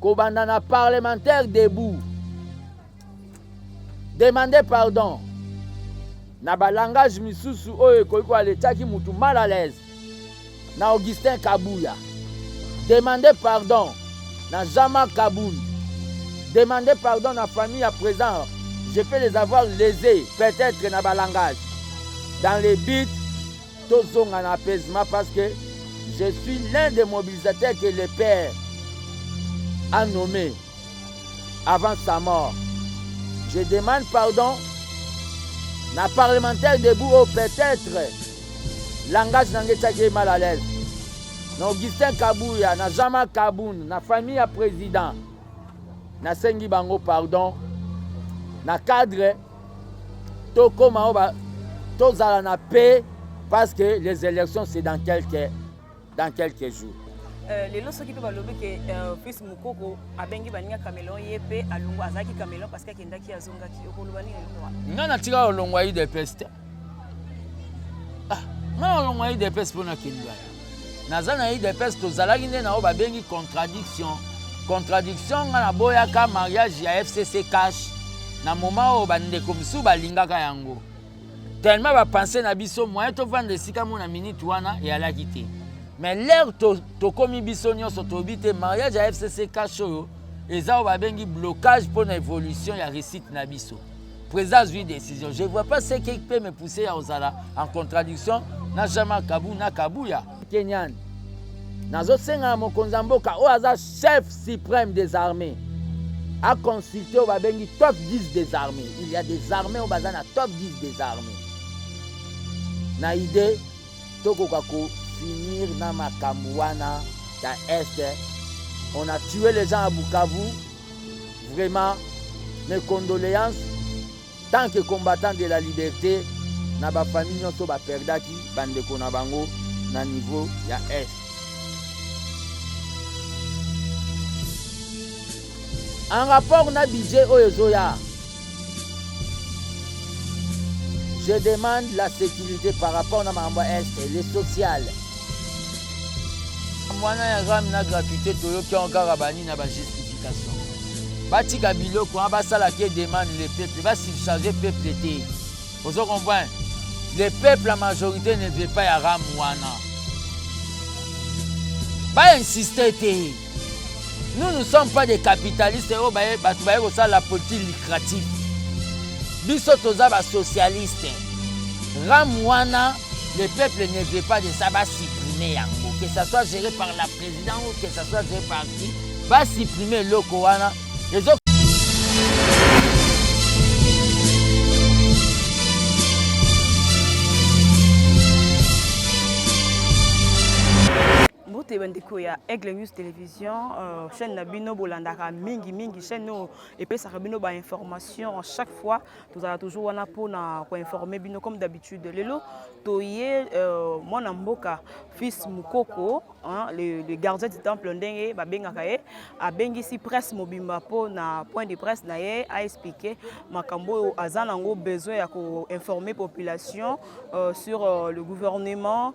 kobanda na parlementaire debout demande pardon na balangage misusu oyo ekoki koaletiaki mutu mal à l'aise na augustin kabuya demande pardon na jama kabund demande pardon na famille ya présent je peux les avoir lésés peut-être na balangage dans les buts Tozonga na apaisement parce que je suis l'un des mobilisateurs que le père a nommé avant sa mort. Je demande pardon na parlementaire debout oyo peut-être langage na ngai etyaki ye mal à l'aise na augustin kabuya na jean-marc kabun na famille ya président nasengi bango pardon na cadre tokoma oba tozala na paix parce que les élections c'est dans quelques dans quelques jours Euh, lelo soki mpe balobi ke euh, fils mokoko abengi baninga camelon ye mpe alongo azalaki camelon parce que akendaki azongaki okoloba nini eloko nga natika olongwa idps te ah, nga olongwa idps mpo nakendwaya naza na udps tozalaki nde na oyo babengi contradiction contradiction nga naboyaka mariage ya fcc cash na moma oyo bandeko mosusu balingaka yango tellement bapense na biso moyen tovanda esika mo na minute wana eyalaki te mais lere tokomi to biso nyonso toyebi te mariage ya fcc cash oyo eza oyo babengi blocage mpo na évolution ya réussite na biso Président azwi décision. Je vois pas ce qui peut me pousser à ozala en contradiction na Jama Kabu na Kabuya. Kenyan. Nazosenga na mokonzi ya mboka oyo aza chef suprême des armées a consulter oyo babengi top 10 des armées. Il y a des armées oyo baza na top 10 des armées. Na idée tokoka ko finir na makambo wana ya est on a tué les gens à Bukavu Vraiment mes condoleances tant que combattant de la liberté na ba famille nyonso ba perdaki bandeko na bango na niveau ya est. En rapport na budget oyo ezoya Je demande la sécurité par rapport na makambo ya est le social wana ya rami na gratuité toyoki yango kaka banini na bajustification batika biloko wana basala ke demande le peuple basubcharge peuple te ozo comprendre le peuple la majorité ne veut pas ya rame wana bainsiste te nous ne sommes pas des capitalistes oyo oh, bato baye kosala politique lucrative biso toza basocialiste ram wana le peuple ne veut pas de ça basupprime yango que ça soit géré par la président ou que ça soit géré par qui basupprime eloko wana ezo mbote bandeko ya aigle news télévision euh, chaîne na bino bolandaka mingi mingi chaîne oyo epesaka bino bainformation chaque fois tozala toujours wana mpona koinforme bino comme d'habitude lelo toye euh, mwana mboka fils mokoko le, le gardien du temple ndenge babengaka ye abengisi presse mobimba mpo na point de presse na ye aexplike makambo oyo aza nango besoin ya koinforme population euh, sur euh, le gouvernement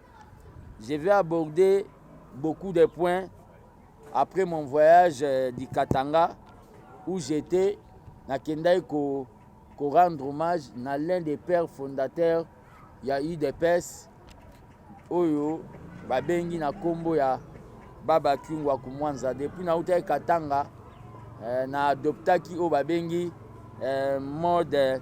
Je vais aborder beaucoup de points après mon voyage euh, du Katanga où j'étais nakendaki ko, ko rendre hommage na l'un des pères fondateurs ya udps oyo babengi na nkombo ya baba kiungwa kumwanza depuis nautaki katanga eh, na adoptaki oyo babengi eh, mode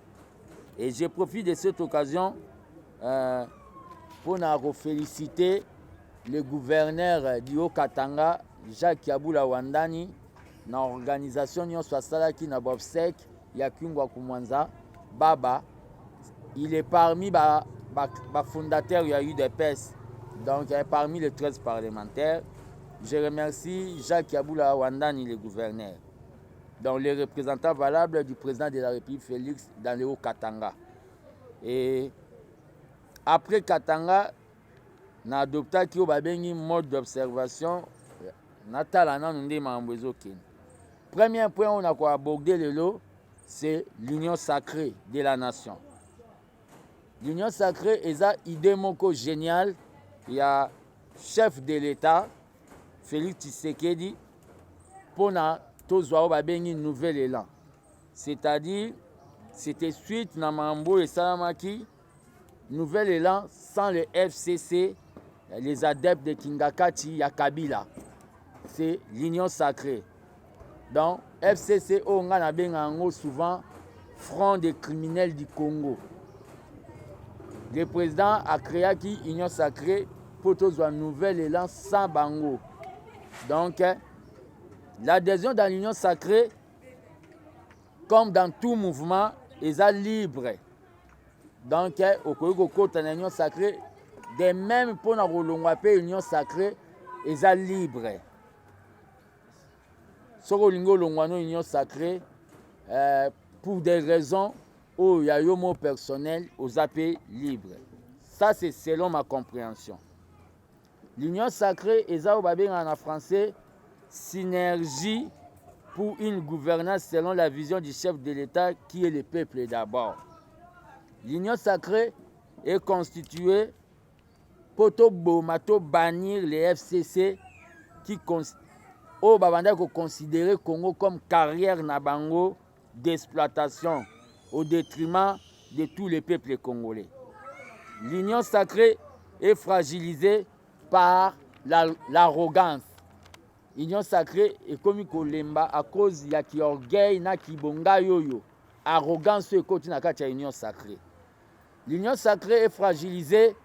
Et je profite de cette occasion euh, pour féliciter le gouverneur du Haut-Katanga, Jacques Yabula Wandani, na organisation nyonso asalaki na bobsec ya kingwa kumwanza baba il est parmi ba, ba, ba fondateur ya udps donc il est parmi les 13 parlementaires je remercie jacques yabula wandani le gouverneur Donc le représentant valable du président de la République Félix dans le Haut-Katanga. Et après Katanga, na adoptaki oyo babengi mode d'observation natala nanu nde makambo ezokende premier point oyo nakoaborde lelo c'est l'union sacrée de la nation L'union sacree eza idee moko geniale ya chef de l'etat Felix Tshisekedi pona tozwa oyo babengi nouvel elan c'est-à-dire c'était suite na mambo oyo esalamaki nouvel elan sans le FCC les adeptes de Kingakati ya Kabila c'est l'union sacrée donc fcc oyo ngai nabenga yango souvent front des criminels du congo le président acréaki union sacrée mpo tozwa nouvel élan sans bango donc l'adhésion dans l'union sacrée comme dans tout mouvement eza libre donc okoki kokota na union sacrée de même mpo na kolongwa mpe union sacrée eza libre soki olingi olongwa na union sacré euh, pour des raisons oyo oh, ya yo mo personnel oza mpe libre ça c'est selon ma compréhension l'union sacrée eza oyo babengaka na français synergie pour une gouvernance selon la vision du chef de l'état qui est le peuple d'abord l'union sacrée est constituée mpo toboma to bannir le fcc qui oyo babandaki koconsidere congo comme carrière na bango d'exploitation au détriment de tous les peuples congolais l'union sacrée est fragilisée par l'arrogance la, union sacrée ekomi kolemba à cause ya kiorgueil na kibongai oyo arrogance oyo ekoti na kati ya union sacrée L'union sacree est fragilisée,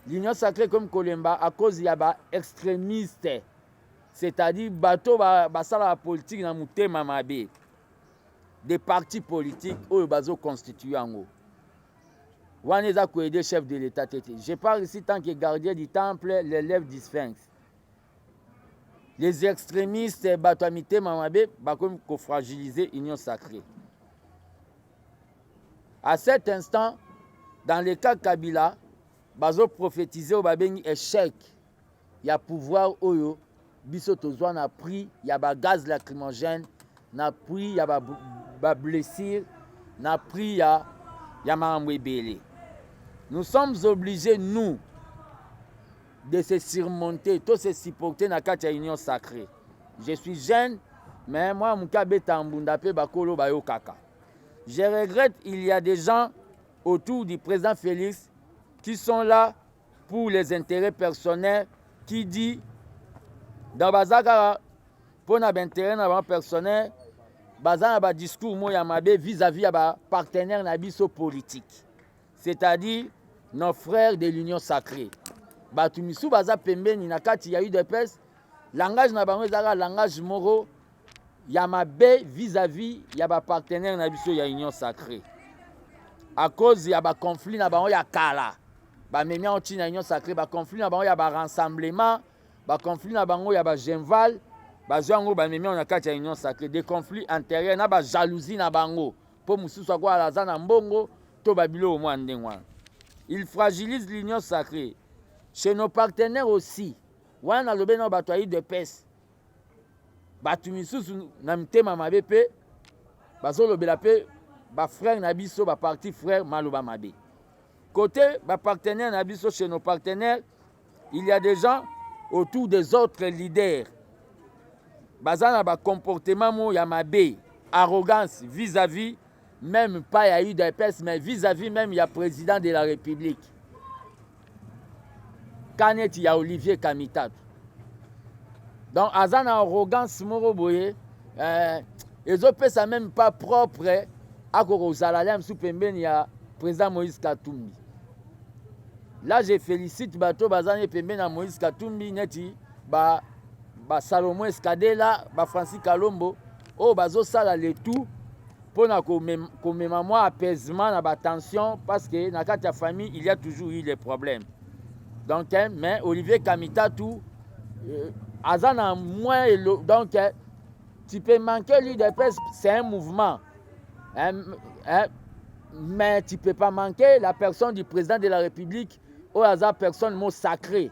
l'union sacree comme Kolemba à cause ya ba extremistes, c'est-à-dire bato ba basala ba politique na mutema mabe. Des partis politiques oyo bazo constituer yango. Wana eza ko aider chef de l'État te te. Je parle ici tant que gardien du temple, l'élève du sphinx. Les extremistes, bato ya mitema mabe bakomi kofragiliser union sacrée. À cet instant, dans le cas Kabila, bazo prophétiser oyo babengi échec ya pouvoir oyo biso tozwa na prix ya ba gaz lacrymogène na prix ya ba, ba blessure na prix ya, ya makambo ebele nous sommes obligés nous de se surmonter to se supporter na kati ya union sacrée je suis jeune mais mwana moke abeta mbunda mpe bakolo bayokaka je regrette il y a des gens autour du président félix qui sont là pour les intérêts personnels qui dit donc baza kaka mpo na baintérêt na bango personnel baza na badiscours moko ya mabe vis-à-vis ya bapartenaire na biso politike c'est-à-dire nos frères de l'union sacrée bato misusu baza pembeni na kati ya udps langage na bango ezalaka langage moko ya mabe vis-à-vis -vis ya bapartenaire na biso ya union sacrée à cause ya baconflit na bango ya kala bamemi yango ntina union sacrée baconflit na bango ya barassemblement baconflit na bango ya bagenval bazwi yango bamemi yango na kati ya union sacrée de conflit intérieur na bajalousie na bango mpo mosusu akoala aza na mbongo To ba biloko mwa ndenge wana. Il fragilise l'union sacrée. Chez nos partenaires aussi. Wana nalobe na bato ya UDPS. Bato misusu na mitema mabe pe bazolobela pe ba frères na biso ba parti frères maloba mabe. Côté ba partenaires na biso chez nos partenaires, il y a des gens autour des autres leaders baza na ba comportement mo ya mabe arrogance vis-à-vis meme pas ya udps mais vis-à-vis -vis meme ya président de la république ka neti ya olivier kamitatu donc aza na arrogance moko boye eh, ezopesa meme pas propre akoka kozala lia mosusu pembeni ya président moïse katumbi là je félicite bato baza ne pembeni ya moïse katumbi neti ba, ba salomon escadela ba francis kalombo oyo bazosala le tout mpo na komema mwa apaisement na batension parce que na kati ya famille il y a toujours eu les problèmes donc eh, mais olivier kamitatu euh, aza na moins elo donc eh, tu peux manquer l'udps c'est un mouvement eh, eh, mais tu peux pas manquer la personne du président de la république oyo aza personne mo sacré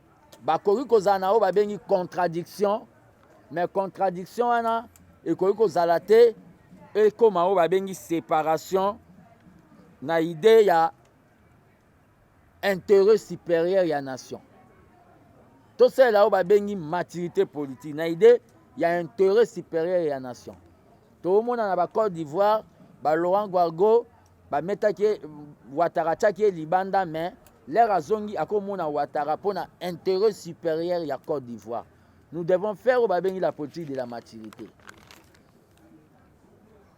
Bakoki kozala na oyo babengi contradiction, mais contradiction wana ekoki kozala te ekoma oyo babengi separation na idee ya intérêt supérieur ya nation tosalela oyo babengi maturité politique na idée ya intérêt supérieur ya nation toomona na bacode d'ivoire balaurent guargo bametaki ye watara atiaki ye libanda mais lere azongi akomona watara mpo na intérêt supérieur ya côte d'ivoire nous devons faire oyo babengi la politique de la maturité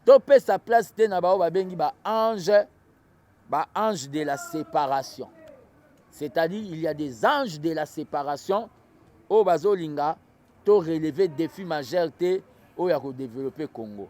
topesa place te na baoyo babengi baange baange de la séparation c'est-à-dire il y a des anges de la séparation oyo bazolinga to relever défi majeur te oyo ya kodeveloppe congo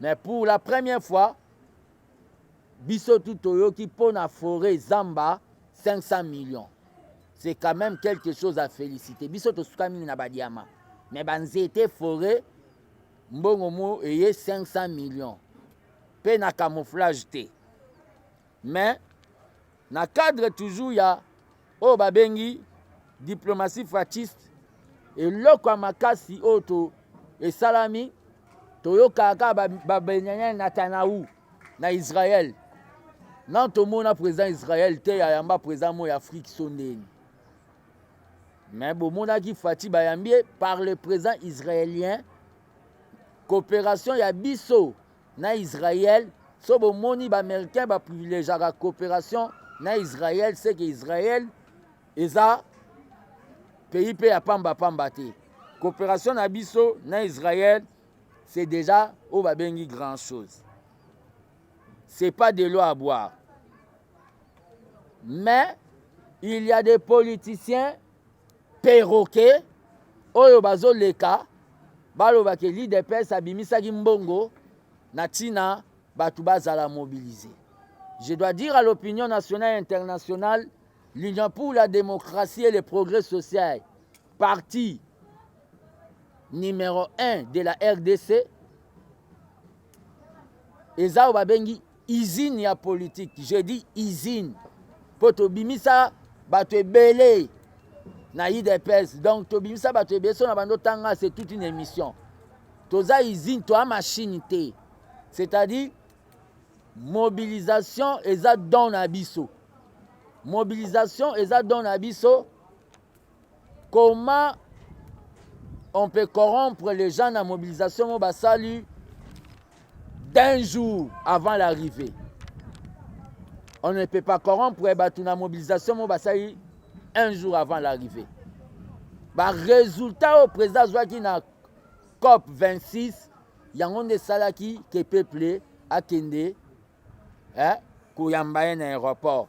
Mais pour la première fois, biso tout toyoki mpo na foret zamba 500 millions. C'est quand même quelque chose à féliciter. Biso tosuka mingi na badiama. Mais banzete foret mbongo mo eye 500 millions. Mpe na camouflage te. Mais Na cadre toujours ya oyo babengi diplomatie frachiste, eloko ya makasi oyo to esalami toyokaka kaka babenyanya Netanyahu na Israël na tomona président Israël te ya yamba président mo ya Afrique sondeni mais bomonaki Fatshi bayambi par le président israélien coopération ya biso na Israël so bomoni ba américain ba privilegiaka coopération na Israël c'est que Israël eza pays mpe ya pamba pamba te coopération na biso na Israël c'est déjà oyo babengi grand chose c'est pas de l'eau à boire mais il y a des politiciens perroquet oyo bazoleka baloba ke l'udps abimisaki mbongo na ntina bato bazala mobilise je dois dire à l'opinion nationale et internationale l'union pour la démocratie et le progrès social parti numéro 1 de la rdc eza oyo babengi Usine ya politique, je dis usine. Mpo tobimisa bato ebele na udps donc tobimisa bato ebele so na bando tanga c'est toute une émission toza usine toa machine te c'est-à-dire mobilisation eza don na biso mobilisation eza don na biso Comment on peut corrompre les gens na mobilisation mo basali d'un jour avant l'arrivée on ne peut pas corrompre bato na mobilisation mo basali un jour avant l'arrivée baresultat oyo président azwaki na cop 26 yango nde esalaki ke peuple akende eh, koyamba ye na aéroport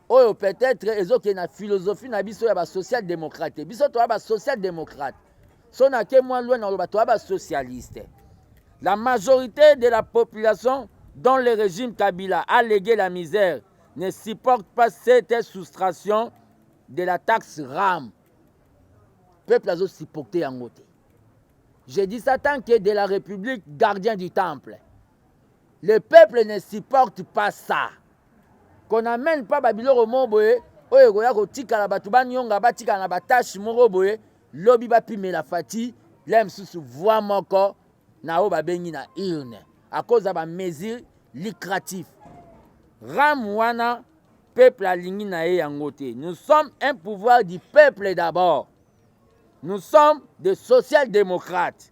oyo peut-être ezokende na philosophie na biso ya basocial démocrate biso toya basocial démocrate so nake mwa lwa na oloba toya basocialiste la majorité de la population dont le régime kabila a légué la misère ne supporte pas cette soustraction de la taxe ram peuple azosupporte yango te je dis ça tant que de la république gardien du temple Le peuple ne supporte pas ça. Qu'on n'amène pas ba biloko moko boye oyo ekoya kotikala bato banyonga batikala na batache moko boye lobi bapimela fati la mosusu voi moko na oyo babengi na urne akoza ba mesure lucratif ram wana peuple alingi na ye yango te nous sommes un pouvoir du peuple d'abord nous sommes de social démocrate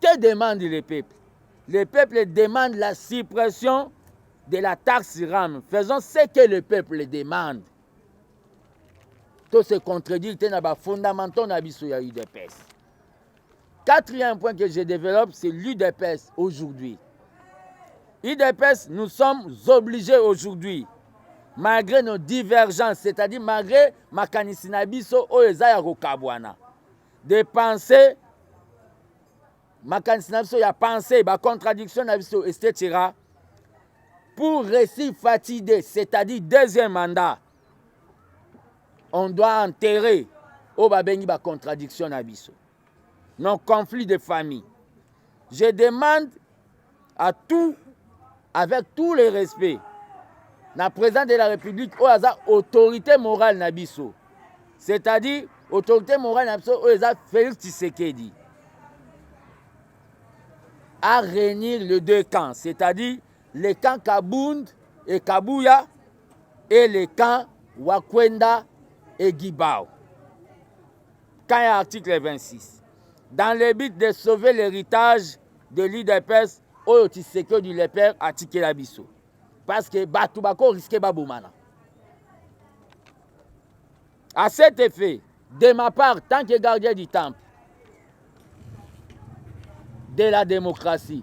Que demande le peuple? Le peuple demande la suppression de la taxe RAM. Faisons ce que le peuple demande. To se contredire te na ba fondamentaux na biso ya UDPS. Quatrième point que je développe, c'est l'UDPS aujourd'hui. UDPS, nous sommes obligés aujourd'hui, malgré nos divergences, c'est-à-dire malgré makanisi na biso oyo eza ya kokabwana, de penser makanisi na biso ya pensée bacontradiction na biso etc pour réussir fati de c'est-à-dire deuxième mandat on doit enterrer oyo babengi bacontradiction na biso nos conflits de famille je demande à tout avec tout le respect na président de la république oyo aza autorité morale na biso c'est-à-dire autorité morale na biso oyo eza félix tshisekedi à réunir les deux camps c'est-à-dire le camp kabund et kabuya et le camp wakwenda et gibao camp ya article 26 dans le but de sauver l'héritage de l'udps oyo tshisekedi le père atikela biso parce que bato bako riske babomana à cet effet de ma part tant que gardien du temple de la démocratie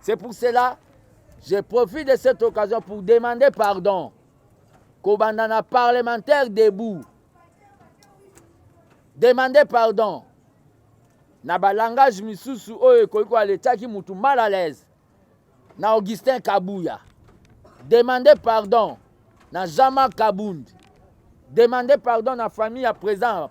C'est pour cela, je profite de cette occasion pour demander pardon. Kobandana parlementaire debout. Demandez pardon. Na ba langage misusu oyo ekoki ko aletaki mutu mal à l'aise. Na Augustin Kabuya. Demandez pardon na Jama Kabund. Demandez pardon na famille à présent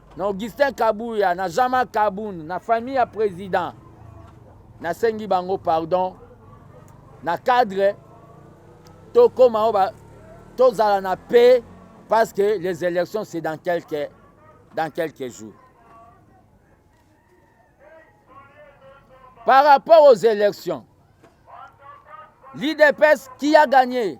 na Augustin Kabuya na Jama Kabund na famille ya president nasengi bango pardon na cadre tokoma oyo tozala na paix parce que les élections c'est dans quelques, dans quelques jours par rapport aux élections l'IDPS qui a gagné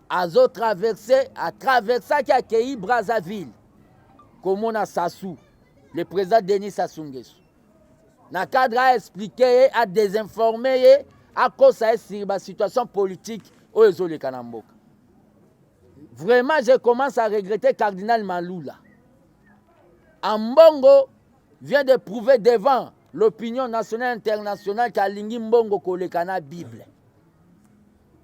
azo traverse atraversaki akei Brazzaville komona Sassou le président Denis Sassou Nguesso na cadre a explique ye a désinforme ye akosa ye sur ba situation politique oyo ezoleka na mboka vraiment je commence à regretter cardinal Malula Ambongo vient de prouver devant l'opinion nationale internationale qu'alingi mbongo koleka na Bible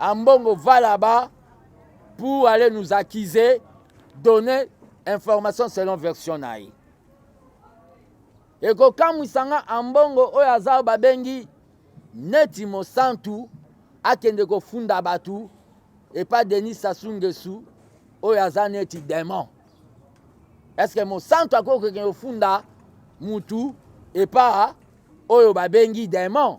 Ambongo va là-bas pour aller nous accuser, donner information selon version na ye. ekokamwisa nga ambongo oyo aza babengi neti mosantu akende kofunda bato epa denis sasu ngesu oyo aza neti demon eske mosantu akoki kokende kofunda mutu epa oyo babengi demon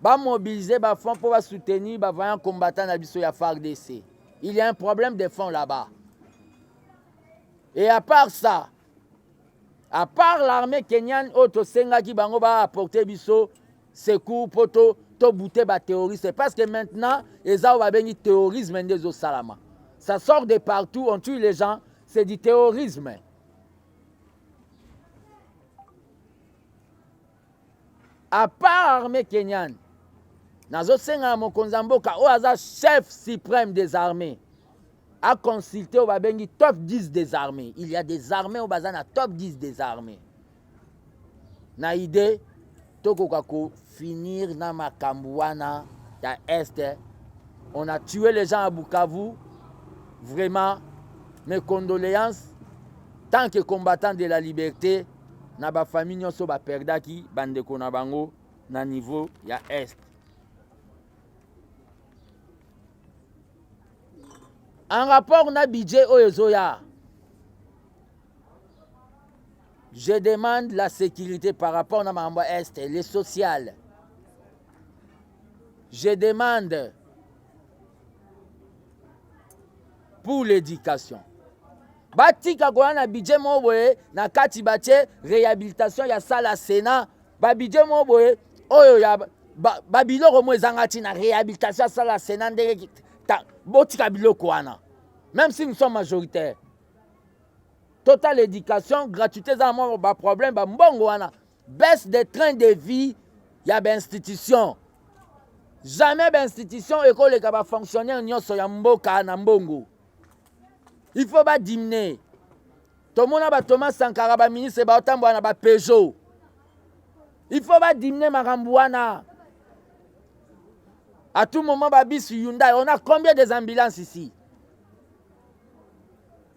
Ba mobiliser ba fonds pour ba soutenir ba vaillants combattants na biso ya FARDC. Il y a un problème de fonds là-bas. Et à part ça, à part l'armée kenyane oyo tosengaki bango ba apporter biso secours mpo to tobute baterroriste parce que maintenant eza oyo babengi terrorisme nde ezosalama ça sort de partout on tue les gens c'est du terrorisme à part armée kenyane nazosenga na mokonzi ya mboka oyo aza chef suprême des armées aconsulte oyo babengi top 10 des armées il y a des armées oyo baza na top 10 des armées na idée tokoka kofinir na makambo wana ya est on a tué les gens à bukavu vraiment mes condoléances tant que combattant de la liberté na ba famille nyonso ba perdaki ba ndeko na bango na niveau ya est en rapport na budget oyo ezoya je demande la sécurité par rapport na makambo ya est le social je demande pour l'éducation batika koya na budget moko boye na kati batie réhabilitation ya salle ya sénat babudget moko boye oyo ya babiloko moko ezanga ntina réhabilitation ya salle ya sénat ndenge botika biloko wana même si nous sommes majoritaire total éducation gratuité eza na mwa baproblème bambongo wana baisse de train de vie ya bainstitution jamais bainstitution ekoleka bafonctionnaire nyonso ya mboka na mbongo il faut badimine tomona batoma sankara baministre baotambola na bapejo il faut badimine makambo wana à tout moment babisi hyundai on a combien des ambulances ici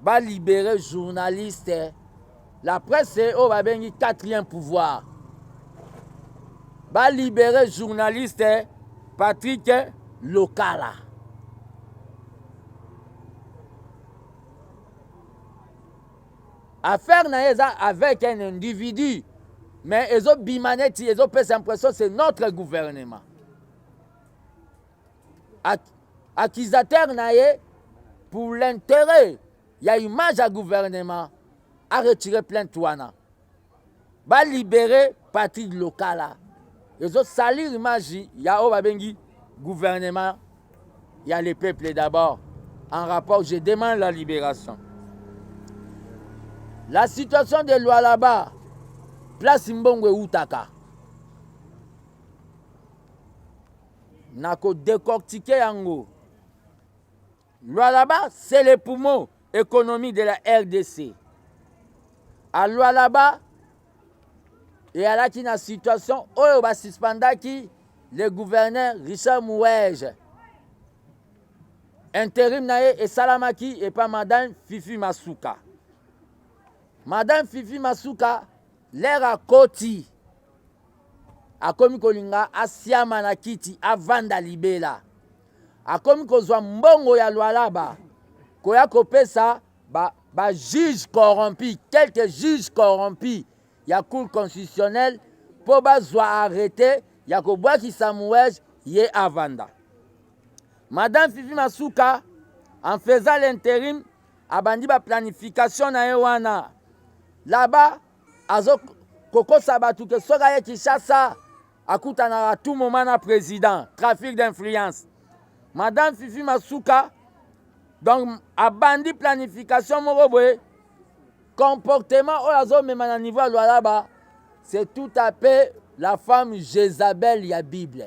Ba libere journaliste la presse oyo babengi quatrième pouvoir. Ba libere journaliste Patrick Lokala. Affaire na ye eza avec un individu mais ezobima neti ezopesa impression c'est notre gouvernement. accusateur na ye pour l'interet ya image ya gouvernement aretire plainte wana balibere patrick lokala ezosalir image ya oyo babengi gouvernement ya le peuple d'abord en rapport je demande la libération la situation de lualaba place mbongo eutaka na ko decortiquer yango Lualaba c'est le poumon économie de la RDC a Lualaba eyalaki na situation oyo ba suspendaki le gouverneur Richard Mouwege interim na ye esalamaki epa madame Fifi Masuka madame Fifi Masuka lere akoti akomi kolinga asiama na kiti avanda libela, akomi kozwa mbongo ya lwalaba koya kopesa ba, ba juge corrompu quelques juges corrompus ya cour constitutionnelle mpo bazwa arrete ya kobwakisa Mouej ye avanda. Madame Fifi Masuka en faisant l'interim abandi ba planification na ye wana là-bas azo kokosa batu ke soki aye Kinshasa akutanaka tout moment na president trafic d'influence madame Fifi Masuka donc abandi planification moko boye comportement oyo azomema na niveau ya Lualaba c'est tout à fait la femme Jezabel ya Bible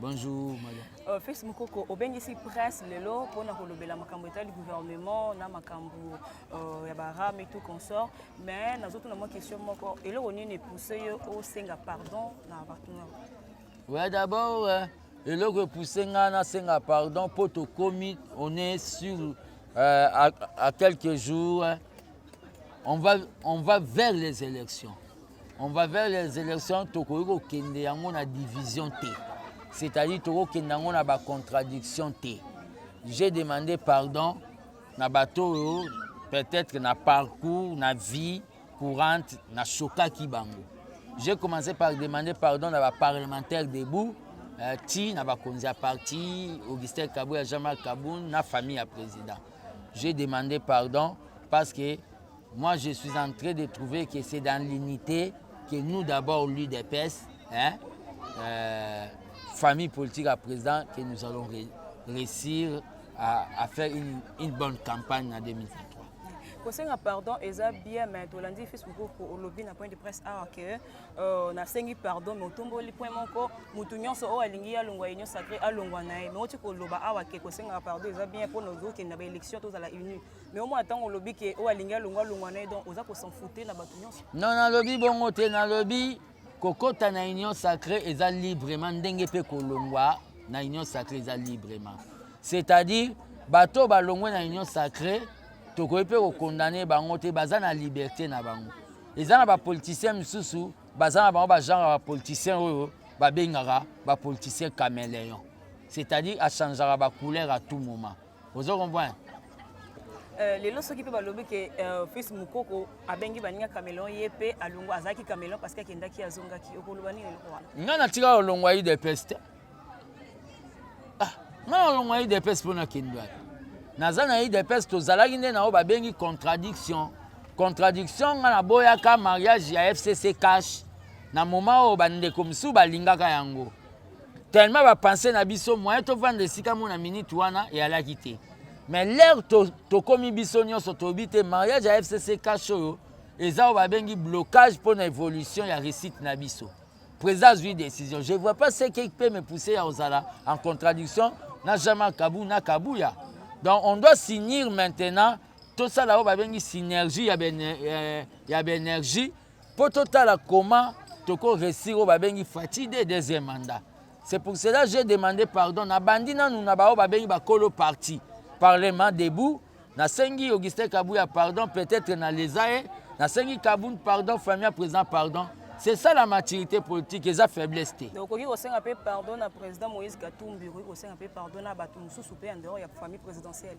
Bonjour, madame. Euh, Fils Mukoko, obengisi presse lelo pona kolobela makambo etali gouvernement na makambo euh, ya baram et tout consort, mais nazotuna mwa question moko eloko nini epousse yo osenga pardon na partenaire Ouais, d'abord, euh, eloko epousse ngai nasenga pardon mpo tokomi on est sur euh, à, à quelques jours euh, on va, on va vers les élections on va vers les élections tokoki kokende yango na division te c'est-à-dire tokokende yango na bacontradiction te j'ai demandé pardon na bato oyo peut-être na parcours na vie courante na sokaki bango j'ai commencé par demander pardon na baparlementaire debout euh, ti na bakonzi ya parti augustin kabou ya jean-marc kaboun na famille ya président j'ai demandé pardon parce que Moi, je suis en train de trouver que c'est dans l'unité que nous, d'abord, l'UDPS, hein, euh, famille politique à président, que nous allons ré réussir à, à faire une, une, bonne campagne en 2023. kosenga pardon eza bien mais tolandi fils mokoko olobi na point de presse awa ke euh, nasengi pardon mais otomboli point moko motu nyonso oyo alingi alongwa union sacré alongwa na ye mais oti koloba awa ke kosengaka pardon eza bien mpo na ozokende na baélection tozala unis mais au moins ntango olobi ke oyo alingi alongwa longwa na ye donc oza kosenfoute na bato nyonso non nalobi bongo te nalobi kokota na union sacré eza librement ndenge mpe kolongwa na union sacré eza librement c'est-à-dire bato oyo balongwe na union sacré tokoki mpe kokondane bango te baza na liberté na bango eza na bapoliticien mosusu baza na bango bagenre ya bapoliticien oyo babengaka bapoliticien cameleon c'est-à-dire achangeaka bacouleur à tout moment ozo comprendre Euh, lelo soki mpe balobi ke euh, fils mokoko abengi baninga camelon ye mpe alongo azalaki camelon parce que akendaki azongaki okoloba nini eloko wana ngai natika olongo ya udps te ah, ngai olongo ya udps mpo nakende wapi naza na udps tozalaki nde na oyo babengi contradiction contradiction ngai naboyaka mariage ya fcc cash na moma oyo bandeko mosusu balingaka yango tellement bapense na biso moyen tovanda esika mona minute wana eyalaki te mais lere tokomi to biso nyonso toyebi te mariage ya fcc cash oyo eza oyo babengi blocage mpo na évolution ya réussite na biso président azwi décision je vois pas ce qui peut me pousser ya kozala en contradiction na jama kabu na kabuya donc on doit signir maintenant tosala oyo babengi synergie ya baénergie Mpo totala comment toko resir oyo babengi Fatshi de deuxième mandat. C'est pour cela j'ai demandé pardon na bandi nanu na baoyo babengi bakolo parti parlement debout nasengi Augustin Kabuya pardon peut-être na leza ye nasengi Kabund pardon famille ya président pardon c'est ça la maturité politique eza faiblesse te okoki kosenga mpe pardon na président moïse katumbi okoki kosenga mpe pardon na bato mosusu mpe en dehors ya famille présidentielle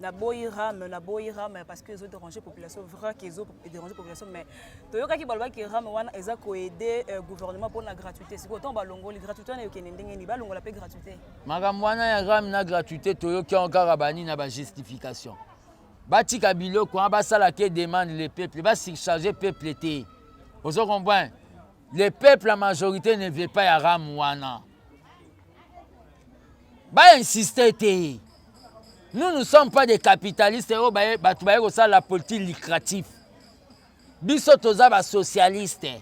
na boyi rame na boyi rame parce que ezo déranger population vrai que ezo déranger population mais toyokaki balobaki rame wana eza koaide euh, gouvernement mpona gratuité sikoyo ntango balongoli gratuité wana eyokende ndenge nini balongola mpe gratuité makambo wana ya rame na gratuité toyoki yango kaka bani na bajustification batika biloko wana basala ke demande le peuple basurcharge peuple te ozo comprendre le peuple la majorité ne veut pas ya rame wana Ba insister te. Nous ne sommes pas des capitalistes oyo oh, bato baye kosala politique lucratif. Biso toza ba socialiste.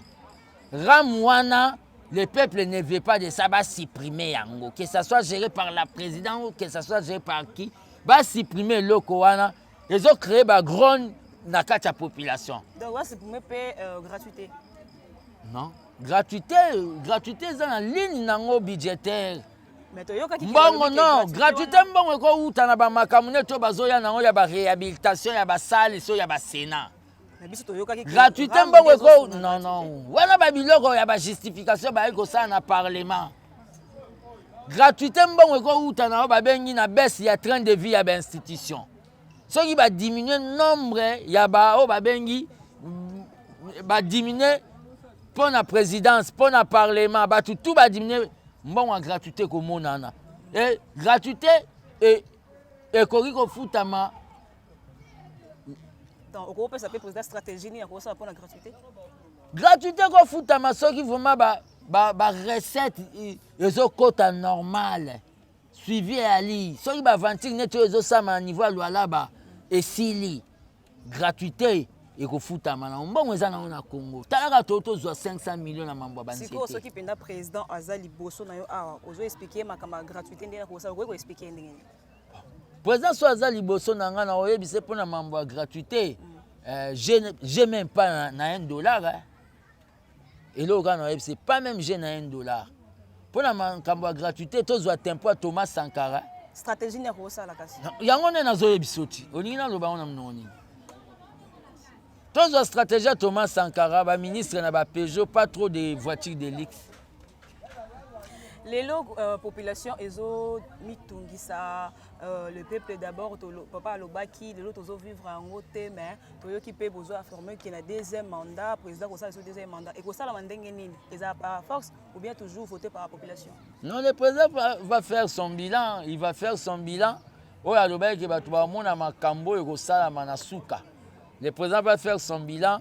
Ram wana le peuple ne veut pas de ça ba supprimer yango que ça soit géré par la présidente ou que ça soit géré par qui ba supprimer eloko wana ezo créer ba grogne na kati ya population donc ba supprimer pe euh, gratuité non gratuité gratuité eza na ligne nango budgétaire mbongo no gratuité mbongo ekowuta na bamakambo neti oyo bazoya nango ya baréhabilitation ya basale so ya basena gratuité mbongo eko non non wana babiloko ya bajustification bayaki kosala na parlement gratuité mbongo ekowuta na oyo babengi na baisse ya train de vie ya bainstitution soki ba diminuer nombre ya ba oyo babengi ba diminuer mpo na présidence mpo na parlement bato tout ba diminuer mbongo ya gratuité ekomonana e gratuité e, ekoki kofutama okopesa mpe président stratégie nini akosala mpo na gratuité gratuité ekofutama soki vraiment ba, ba, ba recette ezokota normale suivi eyali soki baaventure neti oyo ezosama na niveau ya lualaba esili gratuité ekofutama na mbongo eza nango na congo talaka to tozwa 500 million na mambo ya banzete soki mpenza président aza liboso na yo awa ozo explike makambo ya gratuité ndenge nakosala okoki koexplike ndenge nini président so aza liboso na ngai na oyebise mpo na mambo ya gratuité mm. euh, je, je même pas na, na 1 dollar eh. eloko kaka na yebi c'est pas même j'ai na 1 dollar mpo na makambo ya gratuité tozwa tempo ya thomas sankara stratégie nini akosala kasi yango nde nazoyebiso ti olingi naloba yango na monoko nini tozwa stratégie ya thomas sankara baministre na bapejo pas trop de voiture de luxe lelo euh, population ezo mitungisa euh, le peuple d'abord papa alobaki lelo tozo vivre yango te mais toyoki mpe bozo affirme ke na deuxième mandat président kosala so deuxième mandat ekosalama ndenge nini eza par force ou bien toujours voté par la population non le président va, va faire son bilan il va faire son bilan oyo alobaki ke bato bamona makambo oyo ekosalama na suka le président va faire son bilan